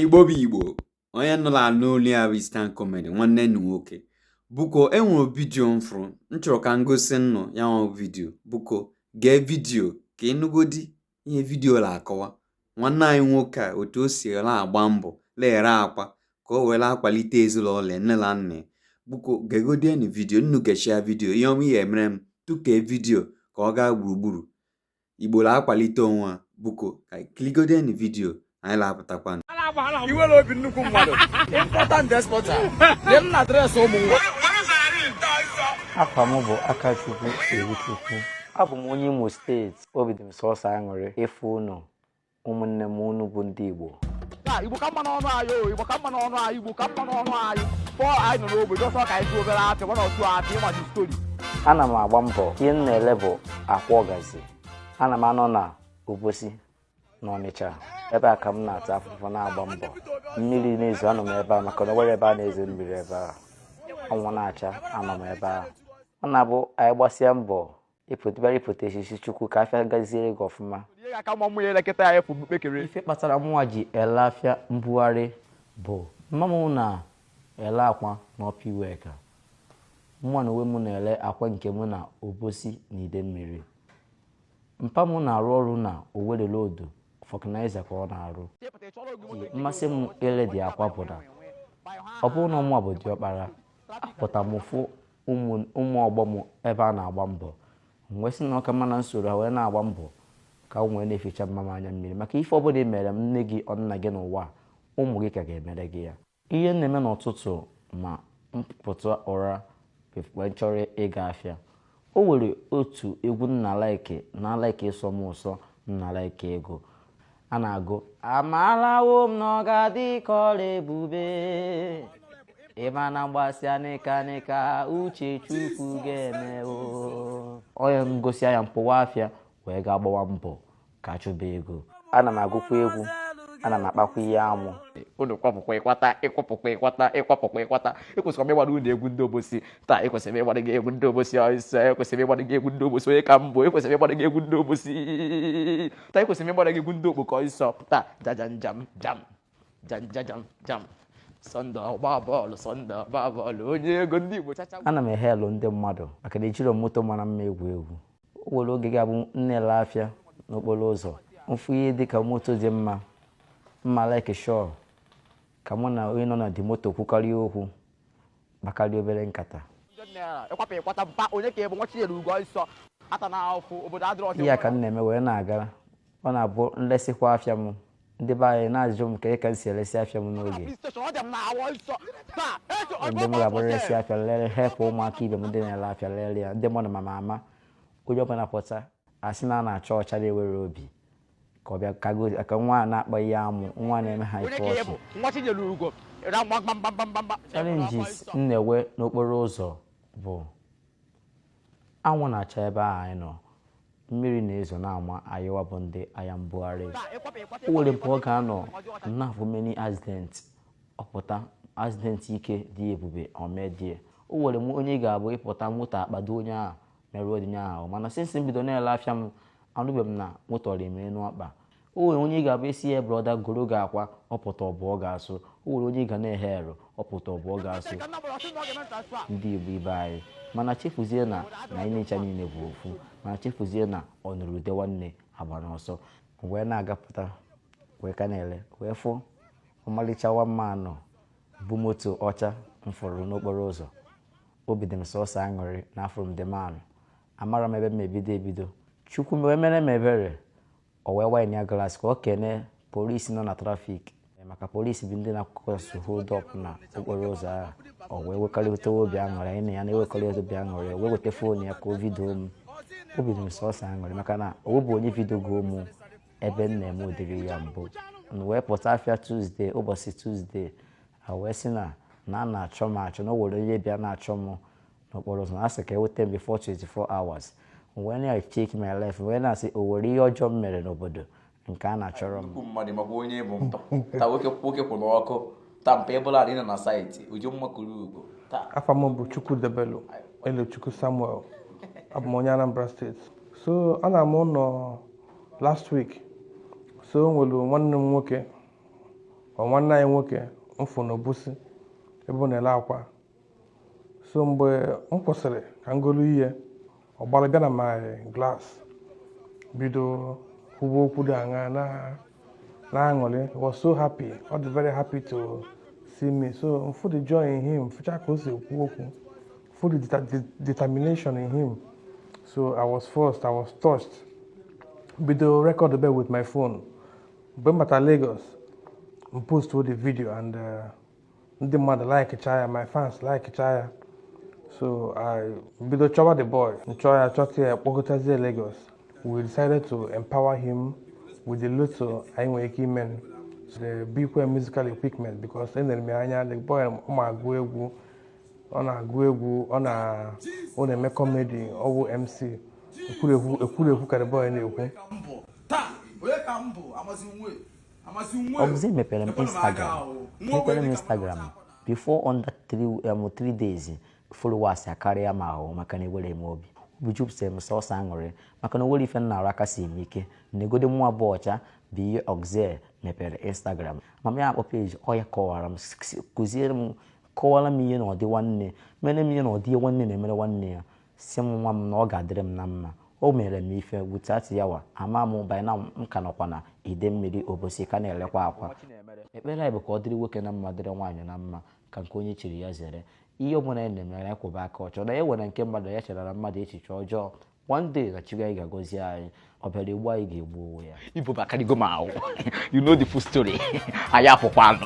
igbo bụ igbo onye nnu la-anụ olu ya bụ istan comedy nwanne nnu nwoke buko enwere vidio m fụrụ m chọrọ ka m gosi nnụ ya nwa vidio buko gee vidio ka ị nụgodi ihe vidio na-akọwa nwanne anyị nwoke a otu o si la-agba mbọ na-ere akwa ka o were akwalite ezinụlọ ya nne na nna ya buko gegodienu vidio nnu gechia vidio ihe ọma ihe emere m tụkee vidio ka ọ gaa gburugburu Igbo na-akwalite onwe a buko ka kiligodienu vidio anyị na-apụtakwanụ i nwere obi nnukwu mmadụ importer and exporter dị m na adreesị ụmụ nwa afa m bụ Akachukwu Iwuchukwu abụ m onye Imo steeti obi dị m sọsọ aṅụrị ịfụ unu ụmụnne m unu bụ ndị Igbo Igbo ka mma n'ọnụ anyị o Igbo ka mma n'ọnụ anyị Igbo ka mma n'ọnụ anyị pọl anyị nọ n'ogbe just ka anyị tụ obere atị nwana otu atị ịmaji story ana m agba mbọ ihe m na-ele bụ akwa ọgazi ana m anọ na obosi n'ọnịcha ebe a ka m na-ata afụfụ na-agba mbọ mmiri na-ezo anọ m ebe a maka na o nwerọ ebe a na-ezo mmiri ebe a anwụ na-acha anọ m ebe a ọ na-abụ anyị gbasịa mbọ ị pụtara ị pụta ị sị sị chukwu ka afịa gaziere gị ọfụma ihe ga-aka ma ụmụ ya elekọta ya efu kpekere ife kpatara mụnwa ji ele afịa mbugharị bụ mma m na-ele akwa na Upper Iweka mụnwa na onwe m na-ele akwa nke mụ na obosi na ide mmiri mpa m na-arụ ọrụ na Owerri Road vulcanizer ka ọ na-arụ mmasị m ile dị akwa bụ na ọ bụrụ na ọ mụwa bụ diọkpara apụta m fụ ụmụ ụmụ ọgbọ m ebe a na-agba mbọ m wee sị na ọ ka mma na m soro ha wee na-agba mbọ ka m wee na-eficha mma m anya mmiri maka ife ọbụla ị meere nne gị or nna gị n'ụwa a, ụmụ gị ka ga-emere gị ya ihe m na-eme n'ụtụtụ ma m pụta ụra wee chọrọ ịga afịa o nwere otu egwu m na-alike na-alike ọ sọ m ụsọ m na-alike ịgụ a na-agụ amarawo m na ọ ga-adị ka ọla ebube ịma na m gbasịa nịka nịka uche chukwu ga-eme o yee m gụsịa ya m pụwa afịa wee ga gbawa mbọ ka chụba ego ana m agụkwa egwu ana m akpakwa ihe amụ unu kwapụkwa ịkwata ịkwapụkwa ịkwata ịkwapụkwa ịkwata ekwesịrị m ịgbara unu egwu ndị obosi taa ekwesịrị m ịgbara gị egwu ndị obosi ọsịsọ ekwesịrị m ịgbara gị egwu ndị obosi onye ka mbụ ekwesịrị m ịgbara gị egwu ndị obosi pụta ekwesịrị m ịgbara gị egwu ndị okpoko ọsịsọ pụta jaja njam jam jam jajam jam Sunday ọgba bọọlụ Sunday ọgba bọọlụ onye ego ndị igbo chacha ana m e-hail ndị mmadụ maka na ejiro moto mara mma egwu egwu o nwere oge ga-abụ m na-ele afịa n'okporo ụzọ m fụ ihe dị ka moto dị mma m ma like chọọ ka mụ na onye nọ na dị moto kwukarịa okwu kpakarịa obere nkata ihe a ka m na-eme wee na-aga ọ na-abụ m lesịkwa afịa m ndị be anyị na-ajụ m ka ka m si elesi afịa m n'oge ndị m ga-abụ eresi afịa lere helpụ ụmụaka ibe m ndị na-ere afịa lere ya ndị mmadụ ma ma ama onye ọbụla pụta asị na a na-achọ ọcha na-ewere obi ka ọ bịa ka gosi ka nwa a na-akpa ihe amụ nwa na-eme ha ife ọchị challenges m na-enwe n'okporo ụzọ bụ anwụ na-acha ebe ahụ anyị nọ mmiri na-ezo na-ama anyịwa bụ ndị ahịa mbugharị o nwere mgbe ọ ga-anọ na-afụ many accident ọ pụta accident ike dị ebube omedie o nwere onye ga-abụ ị pụta moto akpado onye ahụ merụọ dị ya ahụ mana since m bido na-ele afịa m anụbeghị m na moto rịrị m enu ọkpa o nwere onye ị ga-abụ ị sị ya brother goro gị akwa ọ pụta ọ bụọ gị asọ o nwere onye ị ga na-ehe ero ọ pụta ọ bụọ gị asọ ndị igbo ibe anyị mana chefuzie na na anyị ncha niile bụ ofu mana chefuzie na ọ nụrụ ude nwanne agbana ọsọ wee na-agapụta wee ka na-ele wee fụ ọmalịcha nwa mmadụ bu moto ọcha m fụrụ n'okporo ụzọ obi dị m sọsọ aṅụrị na afụrụ m ndị mmadụ amara m ebe m ebido ebido chukwu m wee mere m ebere o wee wind ya glass ka o kene polisi nọ na trafik maka polisi bụ ndị na-akụkọsụ hold up na okporo ụzọ ahụ o wee nwekọrịta obi aṅụrị anyị na ya na-enwekọrịta obi aṅụrị o wee weta foonu ya ka o vidio m obi dị m sọsọ aṅụrị maka na o nwebe onye vidiogo m ebe m na-eme ụdịrị ihe a mbụ m wee pụta afịa tuzdee ụbọchị tuzdee ha wee sị na na a na-achọ m achọ na o nwere onye bịa na-achọ m n'okporo ụzọ na a sị ka eweta m before 24 hours wee na-check my life wee na-asị o nwere ihe ọjọọ m mere n'obodo nke a na-achọrọ m mmadụ maka onye bụ mba ta nwoke nwoke kwụ n'ọkụ ta mpa ebụla adị na saịtị uju mma kuru ugo taa afa m bụ chukwudebelu elochukwu samuel abụ m onye anambra steeti so ana m ụnọ last week so o nwere nwanne m nwoke ma nwanne anyị nwoke m fụ na obosi ebe ọ na-ele akwa so mgbe m kwụsịrị ka m golu ihe ọ gbalụ bịa na my glass bido kwuba okwu dị aṅa na na-aṅụrị He was so happy ọ dị very happy to see me so m fụ the joy in him fụcha ka o si ekwu okwu m fụ the deta- de- determination in him so i was forced i was touched bido record be with my phone mgbe m bata Lagos m post the video and uh, ndị mmadụ like ya my fans like ya so I bido chọwa the boy m chọọ ya chọta ya kpọgotazie Lagos we decided to empower him with the little anyị nwere ike ime the Bikwe musical equipment because elere m ya anya the boy ọ ma agụ egwu ọ na-agụ egwu ọ na-eme comedy ọ wụ MC ekwurekwu ka the boy na-ekwu ọ bụzi e mepere m instagram mepere m instagram before under three, um, three days followers akarịa m ahụ maka na ewere m obi obi jupụtara m sọsọ aṅụrị maka na o nwere ife m na-arụ aka si m ike na egode mụ abụọ ọcha bụ ihe oxel mepere instagram mama ya akpọ peji ọ ya kọwara m kụziere m kọwara m ihe na ọdị nwanne mere m ihe na ọdị ihe nwanne na-emere nwanne ya si m nwa m na ọ ga-adịrị m na mma o mere m ife without ya nwa ama m by now m ka nọkwa na Idemmiri Obosi ka na-elekwa akwa ekpere anyị bụ ka ọ dịrị nwoke na mma dịrị nwaanyị na mma ka nke onye chiri ya zere ihe ọ bụla anyị na-eme anyị kwụba aka ọtọ na e nwere nke mmadụ ya chere na mmadụ echiche ọjọọ one day na Chukwu anyị ga-agọzi anyị ọ bịara igbu anyị ga-egbu onwe ya ibu bụ akarịgo m ahụ you know the full story anyị apụkwa anụ